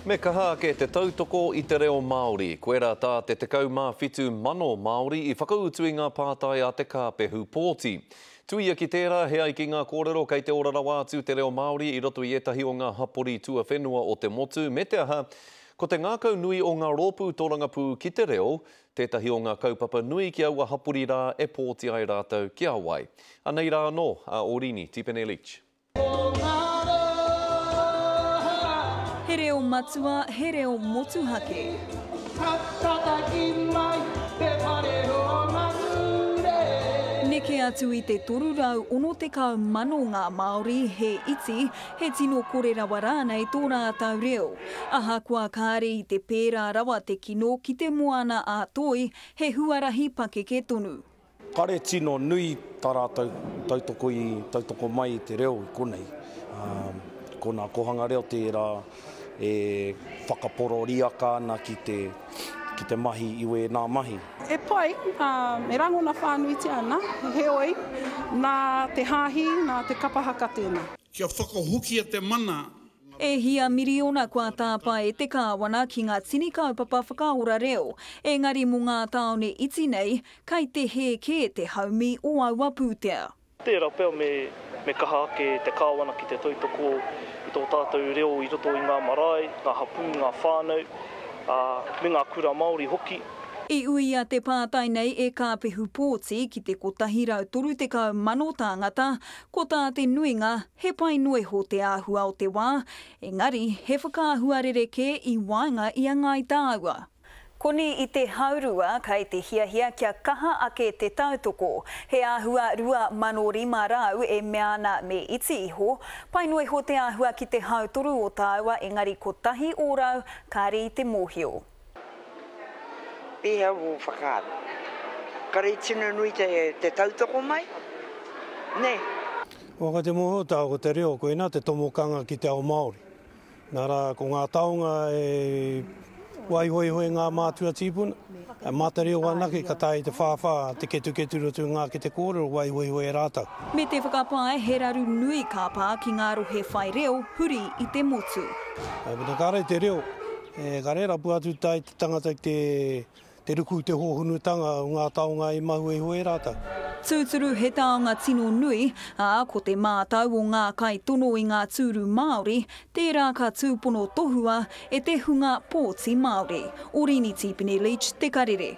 Me kaha ake te tautoko i te reo Māori. Koirā tā te 17 mano Māori i whakautu i ngā pātai a te kāpehu pōti. Tuia ki tērā, he ai ki ngā kōrero kei te ora rawa atu te reo Māori i roto i ētahi o ngā hapori tuawhenua o te motu, me te aha, ko te ngākau nui o ngā rōpū tōrangapū ki te reo tētahi o ngā kaupapa nui ki aua hapori rā e pōti ai rātou ki a wai. Anei rā anō a Orini Tipene Leach. He reo matua, he reo motuhake. Neke atu i te 360,000 ngā Māori, he iti, he tino kore rawa rānei tō rātou reo. Ahakoa kāre i te pērā rawa te kino ki te moana ā-toi, he huarahi pakeke tonu. Kare tino nui tā rātou tautoko i tautoko mai i te reo i konei. Ko nā Kohanga Reo tērā e whakapororiaka ana ki te, ki te mahi i wēnā mahi. He pai, ā, e rangona whānuitia ana, heoi, nā te hāhi, nā te kapa haka tēnā. Kia whakahokia te mana. E hia miriona kua tāpae e te Kāwana ki ngā tini kaupapa whakaora reo, engari mō ngā tāone iti nei, Kei te hē kē te haumi o aua pūtea. Tērā pea me kaha ake te Kāwana ki te tautoko i tō tātou reo i roto i ngā marae, ngā hapū, ngā whānau, ā, me ngā kura Māori hoki. I uia te pātai nei e Kāpehu Pōti ki te 130,000 tāngata, ko tā te nuinga he pai noa iho te āhua o te wā, engari he whakaahua rerekē i waenga i a Ngāi Tāua. Koni i te haurua kei te hiahia kia kaha ake te tautoko. He āhua 2005 rāu e mea ana me iti iho. Pai noa iho te āhua ki te hautoru o tāua engari kotahi ōrau kāre i te mōhio. Pēhea wō whakaaro? Kare tino nui te te tautoko mai, nē? Waka te mōhio tāua ko te reo koina te tomokanga ki te ao Māori. Nā rā, ko ngā taonga e waihoihoi ngā mātua tīpuna, e māta reo anake ka taea e te whāwhā te ketuketu roto i ngā kete kōrero waihoihoi e rātou. Me te whakapae he raru nui ka pā ki ngā rohe whai reo huri i te motu. Mēnā kāre te reo, e kare rapu atu tai te tangata ki te. Te ruku i te hōhunutanga o ngā taonga i mahue iho e rātou. Tūturu he taonga tino nui, ā, ko te mātau o ngā kaitono i ngā tūru Māori, tērā ka tūpono tohua e te hunga pōti Māori. Orīni Tīpene Leach, Te Karere.